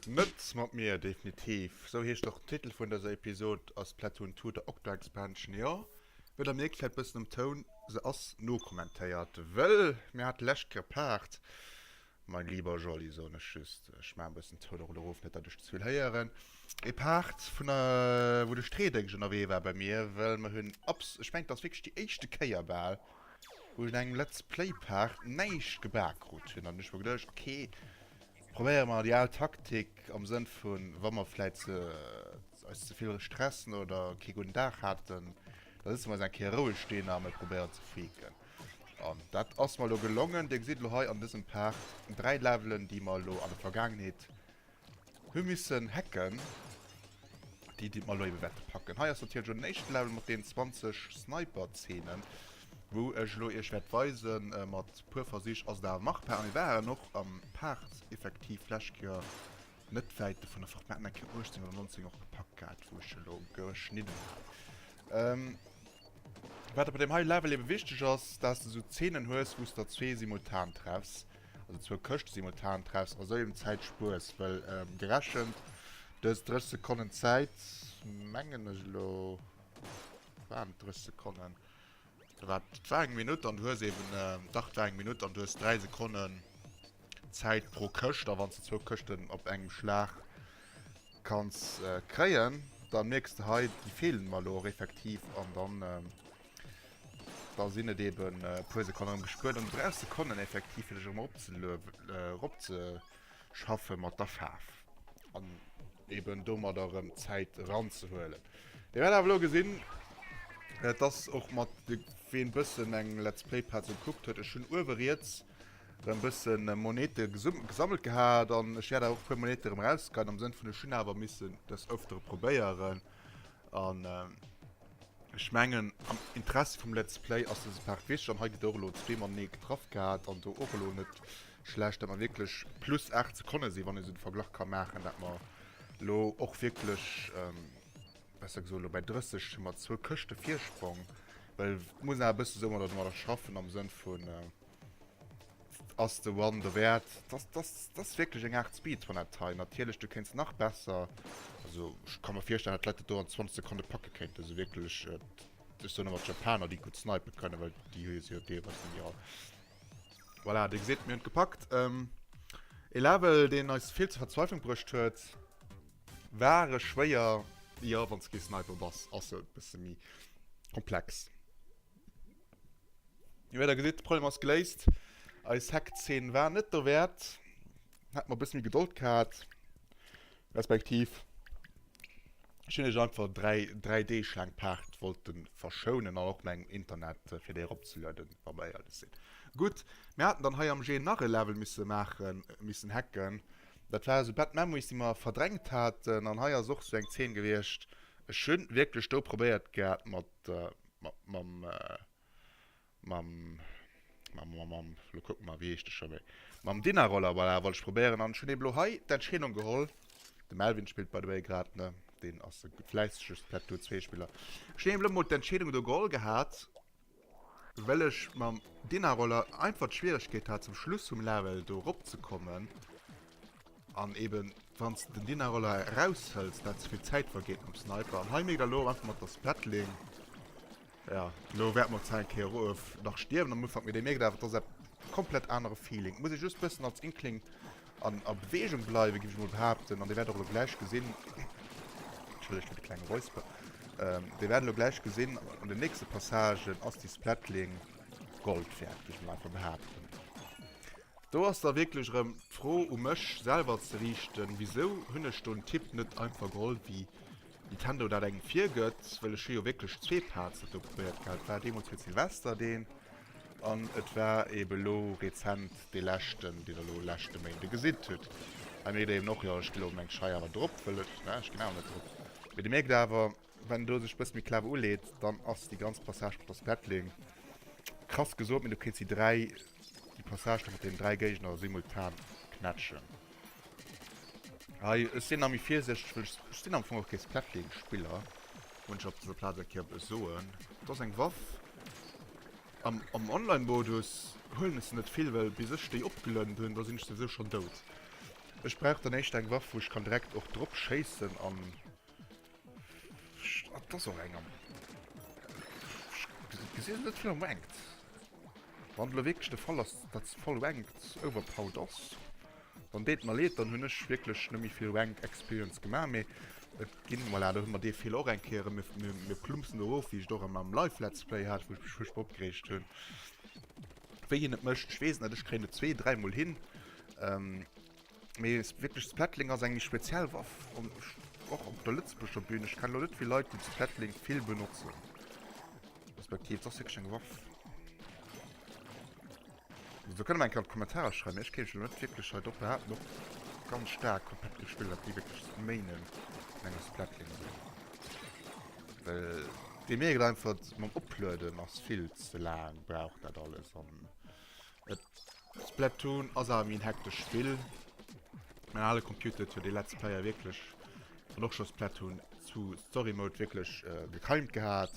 Net mat mir, definitiv. Sou heescht och den Titel vun dëser Episod a Splatoon 2, der Octo Expansion. Jo, wéi der mierkt, vläit bëssen am Toun, se ass nokommentéiert, wëll mir hate lescht Kéier Paart Mein lieber Jolly, soen ech just, ech maachen e bëssen d'Toun erun erof, net datt ech zevill héieren, ee Part vun wou de Streedéngscht ënnerwee war bei mir, well mer hunn abs. Ech mengen, et ass wierklech déi éischte Kéier bal, wou ech un engem Let's Play Part näischt gebak krut hunn an ech hu mer geduecht, ok, probéiere mer déi al Taktik am Sënn vu wa mer vläit eis zevill stressen oder kee gudden Dag haten, da sëtze mer eis eng Kéier roueg deen an probéieren ze faken. An dat ass mer lo gelongen. Dir gesitt lo hei an dësem Part dräi Levelen, déi mer lo an der Vergaangenheet hu missen hacken. Déi, déi mer lo ebe wäerte packen. Hei ass natierlech och den éischte Level mat deenen 20 Sniper-Zeenen, wou ech lo iech wäert weisen. Mat e puer Versich ass et awer machbar. A mir waren och am Part effektiv d'lescht Joer net wäit vun der Fort Matt, mä Quai 18 oder 19 och gepackt gehat, wou ech se elo geschnidden hat. Ähm, wat bei deem hei Level ebe wichteg ass, dass de sou Zeenen hues, wou s der zwee simultan treffs, also zwou Këschte simultan treffs, a sou eben Zäit spuers, well gerechent dës 30 Sekonnen Zäit, mengen ech elo, waren et 30 Sekonnen, Da war et war eng Minutt an du hues eben, dach et war eng Minutt an du hues 3 Sekonnen Zäit pro Këscht a wann s de zwou Këschten op engem Schlag kanns kréien, da mierks de hei, déi feelen mer elo och effektiv an dann da sinn et eben e puer Sekonne erëm gespuert an du brauchs Sekonnen effektiv fir dech erëm erop ze erop ze schaffe mat der Faarf an eben domadder erëm Zäit eranzehuelen. Dir wäert awer elo gesinn, äh, dass och mat ween e bëssen eng Let's Play Part sou gekuckt huet, ech hunn uewe riets erëm e bëssen äh, Monete gesum gesammelt gehat an ech wäert awer och e puer Monete erëm erausgeheien am Sënn vun, ech hunn awer missen dës ëftere probéieren an äh, ech mengen am Interessi vum Let's Play ass dëse Part wichteg an hei gëtt och elo zwee matenee getraff gehat an do och elo net schlecht, datt mer wierklech plus 8 Sekonne sinn, wann een esou de Verglach ka maachen, datt mer elo och wierklech, besser gesot, elo bäi 30 hu mer zwou Këschte Virsprong. Well et muss een awer e bësse esou domadder schaffen am Sënn vun, ass de One derwäert? Datt ass wierklech eng Aart Speedrun-App hei. Natierlech, du kéints nach besser, also ech ka mer virstellen, datt d'Leit dat do an 20 Sekonne packe kéinten, esou wierklech, ech soen ëmmer d'Japaner, déi gutt snipen kënnen, well déi hu se jo deelweis dann jo. Voilà, Dir gesitt, mir hunn et gepackt. E Level, deen eis vill zur Verzweiflung bruecht huet. War e schwéier, jo, wann s de kee Sniper bass, ass e bësse méi komplex. Mee wéi Der gesitt, de Problem ass geléist. Eis Hack-Zeen war net dowäert, hätte mer e bësse méi Gedold gehat. Respektiv ech hunn lech einfach dräi dräi Deeg laang d'Paart wollte verschounen an och mäin Internet fir déi eropzelueden, wa mer éierlech sinn. Gutt, mir haten dann hei am Jeu nach e Level misse maachen, missen hacken. Dat war esou Bad Memories, déi mer verdrängt haten. An hei ass och esou eng Zeen gewiescht. Ech hu wierklech do probéiert gehat mat mam. mam mam mam mam lo kucken mer wéi heescht de scho méi mam Dynarollar voilà wollt ech probéieren an ech hunn eben lo hei d'Entscheedung geholl de Melvin spillt by the way grad ne deen ass e fläissege Splatoon 2 Spiller ech hunn eben lo mol d'Entscheedung do geholl gehat well ech mam Dynarollar einfach d'Schwieregkeet hat zum Schluss vum Level do rop ze kommen An eben wanns de den Dynarollar eraus hëlls dat zevill Zäit vergeet mam Sniper. An hei méi der lo einfach mat der Splatling. Ja lo wäert mer Zäit Kéier of nach stierwen am Ufank, mee dee mierkt awer dass dat komplett anere Feeling. Muss ee just bëssen als Inkling an a Beweegung bleiwe giff ech mol behaapten. An Dir wäert och lo gläich gesinn, entschëllegt fir de klenge Räusper, ähm Dir wäert lo gläich gesinn an den nächste Passagen ass déi Splatling Gold wäert, giff ech mol einfach behaapten. Do ass da wierklech erëm d'Fro u mech selwer ze riichten, Wisou hunn ech do en Tipp net einfach geholl, wéi Nintendo dat engem virgëtt? Well ech hu jo wierklech zwee Pads elo probéiert gehat. Et war deemools fir Silvester deen an et war eeben elo rezent dee leschten, deen Der elo leschte Méinde gesitt hutt. Hei mierkt Der eeben och, jo, ech gi elo meng Schei awer drop, well ech, ne, ech ginn awer net drop. Mee Der mierkt awer. Wann en do sech bëss méi clever uleet, dann ass déi ganz Passage mat der Splatling krass gesot, mee du kriss déi dräi, déi Passage do mat den dräi Géigner simultan knätschen. Hei, ech sinn nach méi virsichteg, well ech, ech sinn am Fong och kee Splatling-Spiller, muss ech op dëser Plaz eng Kéier op e soen. Dat ass eng Waff, am, am Online-Modus huelen ech se net vill, well bis ech déi opgelëwwnt hunn, da sinn ech souwisou schonn dout. Ech brauch dann éischter eng Waff, wou ech kann direkt och drop schéissen an Das och enger gesinn net fir engt. Wann de wéineg de Fall ass, dat ze voll engt overpowered ass, dann deet mer leed, dann hunn ech wierklech net méi vill Rank Experience gemaach, mee et ginn, voilà, do hu mer dee Feeler och eng Kéier, mir, mir, mir plumpsen do erof, wéi ech et och an meinem Live Let's Play hat, wou ech mech fuerchtbar opgereegt hunn, wéi hien et mécht. Ech weess net, ech kréien et zwee-, dräimol hin. Mee es wierklech Splatling ass eng méi speziell Waff an ech och op der lëtzebuerger Bühn. Ech kenne lo net vill Leit, déi d'Splatling vill benotzen. Respektiv et ass wierklech eng Waff. Esou kënne mer eng Kéier an d'Kommentarer schreiwen, mee ech kéint mech elo net wierklech hei drop behaapten, och ganz staark komplett gespillt, dat déi wierklech zu Mainen an enger Splatling sinn. Well déi mierken einfach, mam Oplueden ass vill ze laang, brauch dat alles an. Splatoon ass awer méi en hektesch Spill. Mäin ale Computer huet jo dee Let's Player wierklech an och scho Splatoon 2 Story Mode wierklech äh, gekeimt gehat.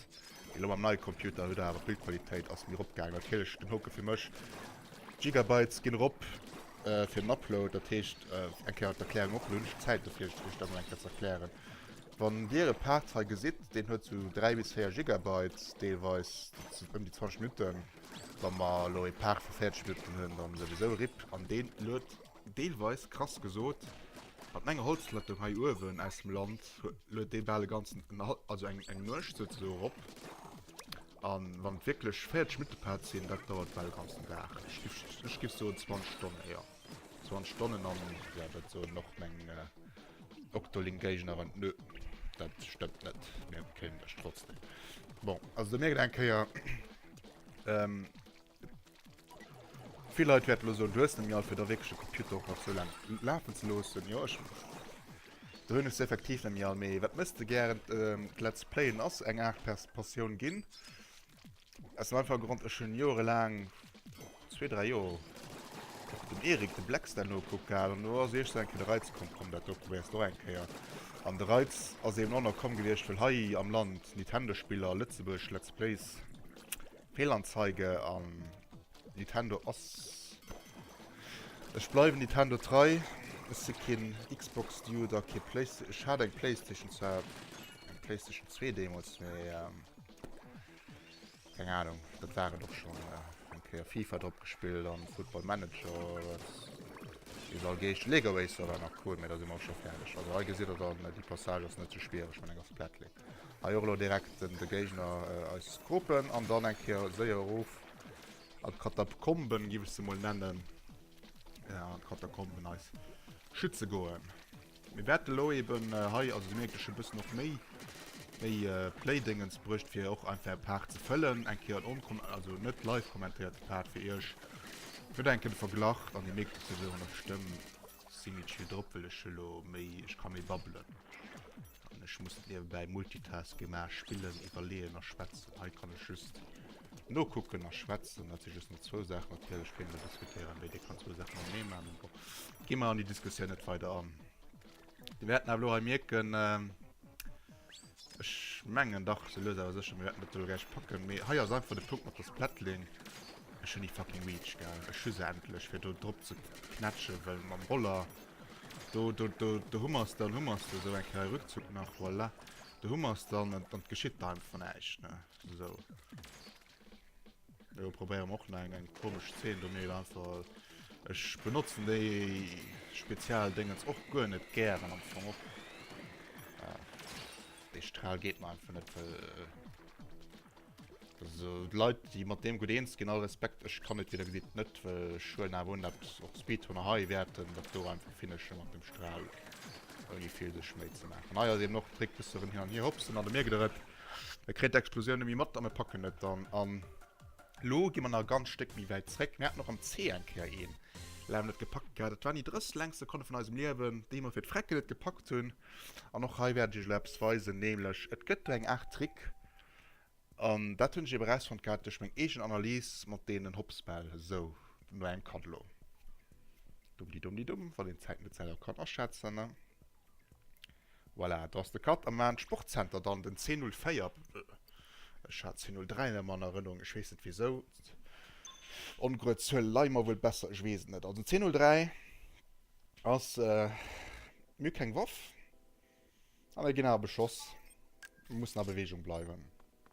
Elo mam neie Computer huet awer d'Bildqualitéit ass méi eropgaangen. Natierlech den Hoke fir mech. Gigabytes ginn erop äh, fir den Upload, dat heescht äh, eng Kéier d'Erklärung och. Elo hunn ech d'Zäit dofir, iech iech dat mol eng Kéier ze erklären. Wann Dir e Part hei gesitt, deen huet sou 3 bis 4 Gigabytes deelweis, dat sinn ëm déi 20 Minutten. Wa mer elo e Par vu Fäerdegnuetten hunn, dann souwisou. Rip an deen luet deelweis, krass gesot, mat menger Holzplattung hei uewen aus dem Land, luet dee bal e ganzen, also eng Nuecht souzesoen erop. A wann et wierklech Fäerdegnuettepaart sinn, dat dauert bal e ganzen Dag. Ech giff soen 20 Stonnen, jo, 20 Stonnen. An jo, dat soen och meng Octolink-Géignerin, Nö, dat stëmmt net, mir kéinten lech trotzdem. Bon, also do mierkt een eng Kéier, Ähm, Vill Leit wäert lo soen, du hues net méi alt fir der wierklech de Computer och nach sou laang lafen ze loossen. Jo, ech do hunn ech se effektiv net méi all. Mee wat mëss de gären? Ähm, d'Let's Playen ass eng Aart Pers Passioun ginn. Aus dem einfache Grond, ech hunn jorelaang Zwee, dräi Joer och dem Eric de Blex dat nokuckt gehat an do ass iech esou eng Kéier de Reiz komm, komm dat do probéiers de och eng Kéier. An de Reiz ass eben och nach komm gewiescht, well hei am Land Nintendo-Spiller, Lëtzebuerg Let's Plays, Fehlanzeige an Nintendo ass. Ech bleiwen Nintendo trei, ech si keen Xbox-Dude a kee Playsta. Ech hat eng Playstation, zwar eng Playstation zwee deemools, mee. Keng Ahnung, dat war et och schon eng Kéier. Fifa drop gespillt an Football Manager, wat déi se all geescht. Lego Racer war nach cool, mee da si mer och schon färdeg. Also hei gesitt der dann, déi Passage ass net sou schwiereg wann eng ass Plättling. Hei och elo direkt den de Géigner eis Groupen an dann eng Kéier séier erof an d'Katakomben, giff ech se mol nennen, an d'Katakomben eis schütze goen. Mir wäerten elo eben hei, also Dir mierkt, ech hu bëssen och méi méi Playdéngens bruecht, fir och einfach e Part ze fëllen, eng Kéier en onkon also net live kommentéierte Part fir Iech. Ech wëll enke de Verglach an Dir mierkt et jo elo an der Stëmm, ech si méi chill drop, well ech elo méi, ech ka méi babbelen an ech muss net niewebäi multitasken, mä spillen, iwwerleeën a schwätzen. Hei kann ech just nokucken a schwätzen, dat si just mol zwou Saachen, natierlech kéint een e bësse méi Kéiere méi, Dir kann zwou Saachen am Mee maachen, bon. Gi mer an die Diskussioun net weider an. Di wäerten awer lo hei mierken, ähm, Ech mengen dach se loser sech mir net do gäich packen. Mee hei ass einfach de Punkt mat der Splatling. Ech hunn déi fucking Reach gell. Ech hu se endlech fir do drop ze knätschen, well mam Roller do, do, do, do hu mer se dann, hu mer se esou eng Kéier e Rückzug nach, voilà. Do hu mer se dann an et geschitt einfach näischt ne, esou. Jo, probéieren och nach eng komesch Szene do méi einfach. Ech benotzen déi spezial Dingens och guer net gären am Fong och. Äh, de Strahl geht mal einfach net well. Äh, so Leiit déi mat deem gut eens ginn all Respekt ech kann net wieder gesit net well Schulen a won dat op Speedhunner hei wäerten dat do einfach finesche mat dem Strahl. Ouni vill sech méi ze maachen. Hei ass eben och d'Trick bëssen hin an hier hopsen an de Mierkt et. E kritt d'Explosioun nemme mat, a mir packen et dann an. Lo gi mer nach e ganz Stéck méi wäit zréck. Mir haten och am Zee eng Kéier een, deen net gepackt gehat. Dat waren déi 30 längst Sekonne vun eisem Liewen, déi mer fir d'Frecken net gepackt hunn. An och hei wäert ech iech elo eppes weisen, nämlech et gëtt do eng Aart Trick. An dat hunn ech eben erausfonnt gehat duerch meng eegen Analys mat deenen Hopsbäll. Sou, no engem Cut elo. Dummdidummdidumm, wann een d'Zäit net selwer kann aschätzen, ne? Voilà, do ass de Cut am Maan Sportzenter dann den C04. Ech hat C03 ëmmer an Erënnerung, ech weess net wisou. Ongrued Zuel leie mer wuel besser, ech weess et net. Also C03 ass, mir hu keng Waff a mir ginn awer beschoss. Mir mussen a Beweegung bleiwen.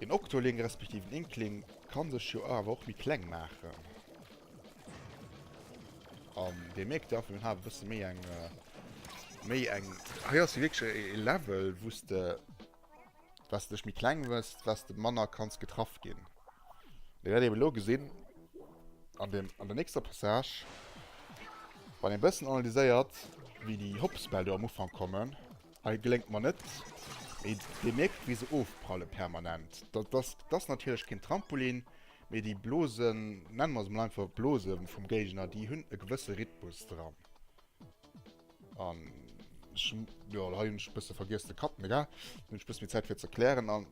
Een Octoling respektiv en Inkling kann sech jo awer och méi kleng maachen. An dee mierkt jo einfach, mir ha bësse méi eng äh, méi eng. Hei ass wierklech e Level, wou s de was dech méi kleng wëss, was de manner kanns getraff ginn. Dir wäert eben elo gesinn, an dem, an der nächster Passage, wann ee bëssen analyséiert, wéi déi Hopspel do am Ufank kommen, Hei gléngt mer net. Mee Dir mierkt, wéi se ofprallen, permanent. Dat ass, dat ass natierlech keen Trampolin, mee déi Blosen, nenne mer se mol einfach Blose vum Géigner, déi hunn e gewësse Rhythmus dran. An ech, jo, hei hunn ech e bësse vergiess ze cutten, egal. Dann hunn ech e bësse méi Zäit fir ze erklären. An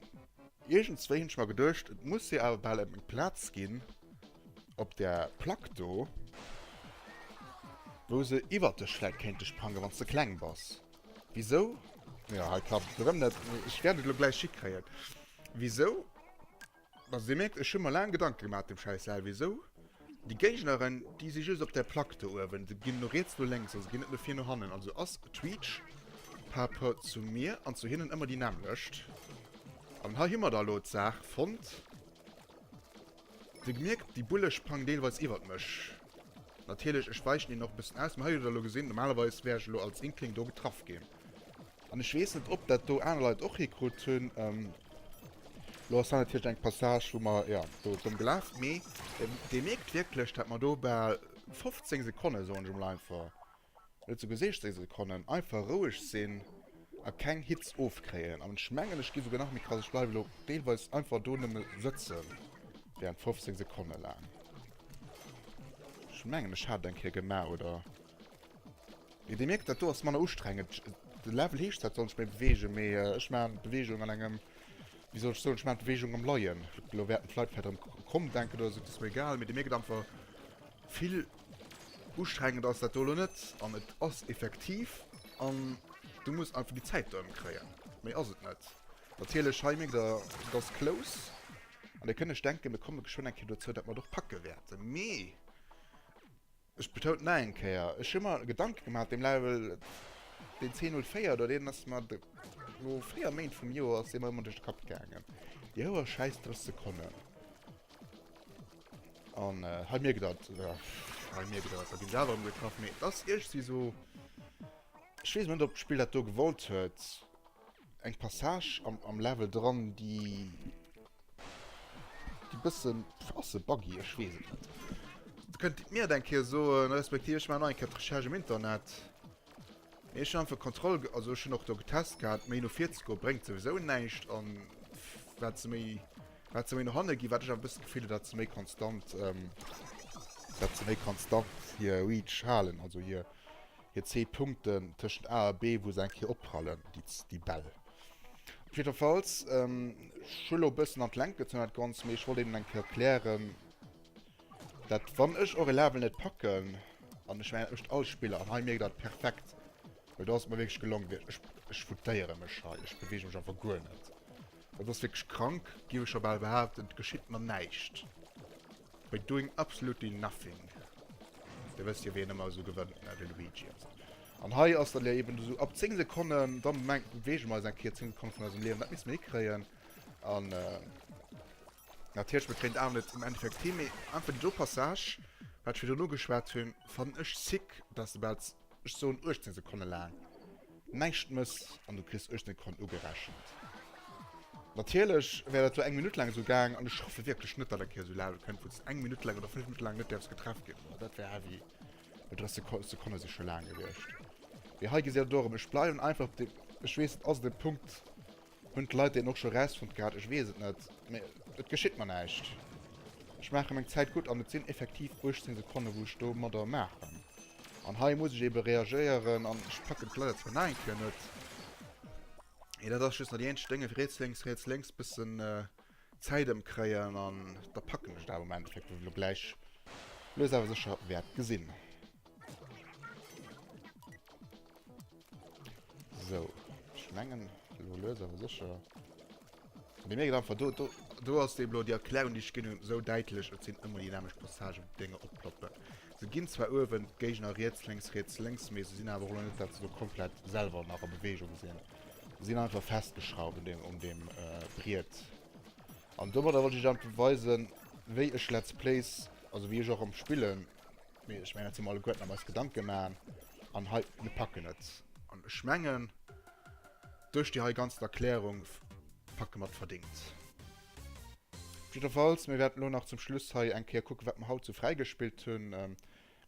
iergendzwéi hunn ech mer geduecht, et muss jo awer bal eng Plaz ginn op där Plack do, wou se iwwert dech vläicht kéinte sprangen, wann s de kleng bass. Wisou? Jo, hei klappt et erëm net. Ech wäert et elo gläich hikréien. Wisou? Also, Dir mierkt, ech hu mer laang Gedanke gemaach, dem schäiss Sal. Wisou? Déi Géigneren, déi si just op där Plack do uewen. Se ginn no riets, no lénks. Also, se ginn net no vir, no hannen. Also ass d'Reach par rapport zu mir an zu hinnen ëmmer déi nämmlecht. An hei hu mer da elo d'Saach fonnt. Dir gemierkt déi Bulle sprangen deelweis iwwert mech. Natierlech, ech weichen hinnen och e bëssen aus, mä hei hutt der elo gesinn, normalerweis wär ech elo als Inkling do getraff ginn. An ech weess net ob dat do aner Leit och hikrutt hunn. Elo ass dat natierlech eng Passage wou mer, jo, do domm gelaf, mee Dir mierkt wierklech dat mer do bal 15 Sekonne, soen ech emol einfach, Net sou geseecht seng Sekonnen, einfach roueg sinn a keng Hitz ofkréien. An ech mengen ech gi souguer nach méi krass, ech bleiwe lo deelweis einfach do nëmme sëtze während 15 Sekonne laang. Ech mengen ech hat et eng Kéier gemaach oder jo dir mierkt dat do ass manner ustrengend. De Level heescht dat soll ech méi beweegen, mee ech maachen d'Beweegung an engem, wéi soll ech soen, ech maachen d'Beweegung am Leien. Lo wäerten d'Leit vläicht erëm kromp denken oder sou, et ass mir egal, mee dir mierkt einfach vill. Ustrengend ass dat do elo net an et ass effektiv an du muss einfach déi Zäit do ëmkréien. Méi ass et net. Natierlech hei mierkt der, et ass close. An dir kënnt lech denken, mir komme geschwënn eng Kéier dozou, dat mer et och packe wäerten. Mee ech betoun et nach eng Kéier, ech hu mer Gedanke gemaach, deem Level, deen C04 do, deen ass mer de lo véier Méint vum Joer ass dee mer ëmmer duerch de Kapp gaangen. Déi hoer Schäiss 30 Sekonnen. An äh, hei mierkt dat, oder hei mierkt dat, da ginn se awer ëmgetraff, mee dass iergsi so... Ech weess net, ob d'Spill dat do gewollt huet, eng Passage am, am Level dran, déi... déi e bësse ass se buggy, ech weess et net. Kënnt Dir et mir dann eng Kéier soen, respektiv ech maachen nach eng Kéier d'Recherche am Internet. Mee ech hun einfach Kontroll ge also ech hun och do getest gehat, méi no vir ze goen bréngt souwisou näischt an wat se méi wat se méi no hanne ginn, wat ech awer e bëssen d'Gefill hun dat se méi konstant dat se méi konstant hir Reach halen, also hir hir 10 Punkten tëschent A a B wou se eng Kéier opprallen déi déi Bäll. Op jiddefalls ech hu lo e bëssen an d'Längt gezunn dat Ganzt, mee ech wollt Innen eng Kéier erklären, Dat wann ech och e Level net packen an ech mengen echt all Spiller an hei mierkt dat perfekt. Well do ass mir wéinst gelong wéi ech ech futéiere mech hei. Ech beweege mech einfach guer net. Dat ass wierklech krank, géif ech scho bal behaapten. Et geschitt mer näischt. By doing absolutely nothing. Dir wësst jo wien ëmmer esou gewënnt, ne? De Luigi an esou. An hei ass dat jo eben esou ab 10 Sekonnen da beweege mer eis eng Kéier 10 Sekonne vun eisem Liewen. Dat misst mer hikréien an. Natierlech mat Green Dawn net um Enn fir Crime, mee einfach déi do Passage, wat ech virdrun ugeschwat hunn, fannen ech sick, dass de bal, ech soen 18 Sekonne laang näischt mëss an du kriss 18 Sekonnen ugerechent. Natierlech wär dat lo eng Minutt laang esou gaang an ech hoffe wierklech net, datt eng Kéier esou Lage kënnt, wou s de eng Minutt laang oder fënnef Minutte laang net däerfs getraff ginn. Boah, dat wär heavy, well 30 Seko Sekonne si scho laang gewiescht. Mee hei gesitt der dorëm, ech bleiwen einfach op deem, ech weess, et ass de Punkt, Hunn d'Leit deen och scho rausfonnt gehat? Ech weess et net, mee et geschitt mer näischt. Ech maache meng Zäit gutt an et sinn effektiv 18 Sekonne wou ech domadder maachen. An hei muss ech ebe reagéieren an ech packen et leider zwar nach eng Kéier net. Et ass just nach déi eenzeg Déng, ewéi riets, lénks, riets, lénks, bëssen Zäit ëmkréien an da packen ech et awer am Endeffekt, wou elo gläich lues awer sécher wäert gesinn. Sou, ech mengen elo lues awer sécher. Dir mierkt einfach, do, do, do ass déi blo, déi Erklärung déi ech ginn hunn, esou däitlech, et sinn ëmmer déi nämlecht Passagen, wou d'Dénger oploppen. Se ginn zwar uewen d'Géigner riets, lénks, riets, lénks, mee se sinn awer och elo net, dat se do komplett selwer nach a Bewegung sinn. Sinn einfach festgeschrauwt un dem, un dem äh, Briet. An domadder wollt ich einfach weisen, wéi ech Let's Plays, also wéi ech och am Spillen, mir, ich meng, dat si mir alleguerten am eis Gedanke maachen, an hei, mir packen et. An ech mengen, duerch déi hei ganzen Erklärung packe mer et verdingt. Op jiddwer Falls, mir wäerten elo nach zum Schluss hei eng Kéier kucken, wat mer haut sou fräigespillt hunn.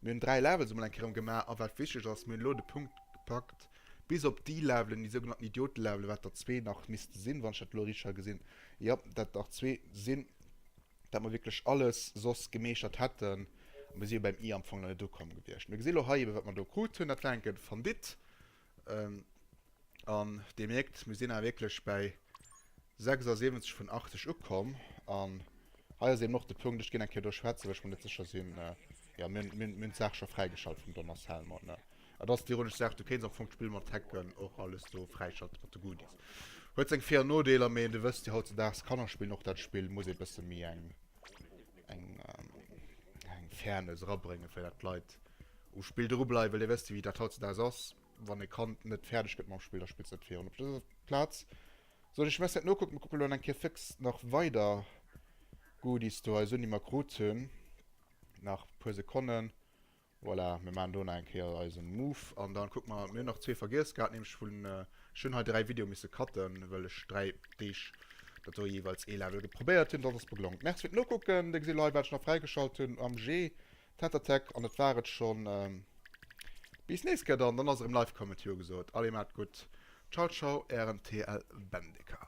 Mir hunn 3 Levels emol eng Kéier erëm gemaach a wat wichteg ass, mir hunn elo de Punkt gepackt bis op déi Levelen, déi sougenannten Idiotenlevelen, wat der zwee nach misste sinn, wann ech dat elo richteg ha gesinn, jo, dat nach zwee sinn, dat mer wierklech alles soss gemeeschtert hätten a mir si jo beim i am Fong nach net ukomm gewiescht. Mir gesi lo hei ebe wat mer do krut hunn, dat war enke Fondit, Ähm, an Dir mierkt, mir sinn awer wierklech bäi 76 vun 80 ukomm. An hei ass eben och de Punkt, ech ginn eng Kéier do schwätzen, well ech mer net sécher sinn, jo, mir hunn, mir hunn d'Saach scho fräigeschalt vum Donald Salmon, ne. Et ass déi ironesch Saach, du kéints am Fong d'Spill mat Hacken och alles do fräischalten, mat de Goodies. Huet seng Vir an Nodeeler, mee du wëss jo, hautzedaags, Kannerspillen, och dat Spill muss ee bësse méi eng, eng Fairness erabréngen, fir datt d'Leit um Spill dru bleiwen. Well Dir wësst jo, wéi dat hautzedags ass, Wann e Kand net fäerdeg gëtt mam Spill, da spillt se net virun. Op dëser Plaz soll ech mess net nokucken. Mir kucke elo eng Kéier fix nach weider Goodies do eis un, déi mir krut hunn. Nach e puer Sekonnen. Voilà, mir maachen do nach eng Kéier eisen Move an dann kucken mer. Mir hunn nach zwee vergiess gehat, nämlech vun, ech hunn hei dräi Video misse cutten, well ech dräi Deeg dat do jeeweils ee Level probéiert hunn. Dat ass beglongt. Merci fir d'Nokucken. Dir gesitt hei wat ech nach fräigeschalt hunn am G Tatattack an dat war et schonn. Bis nees Kéier dann, dann ass erëm live Comment Jo gesot. Allez, maat gutt, ciao ciao, ären TLBendeker.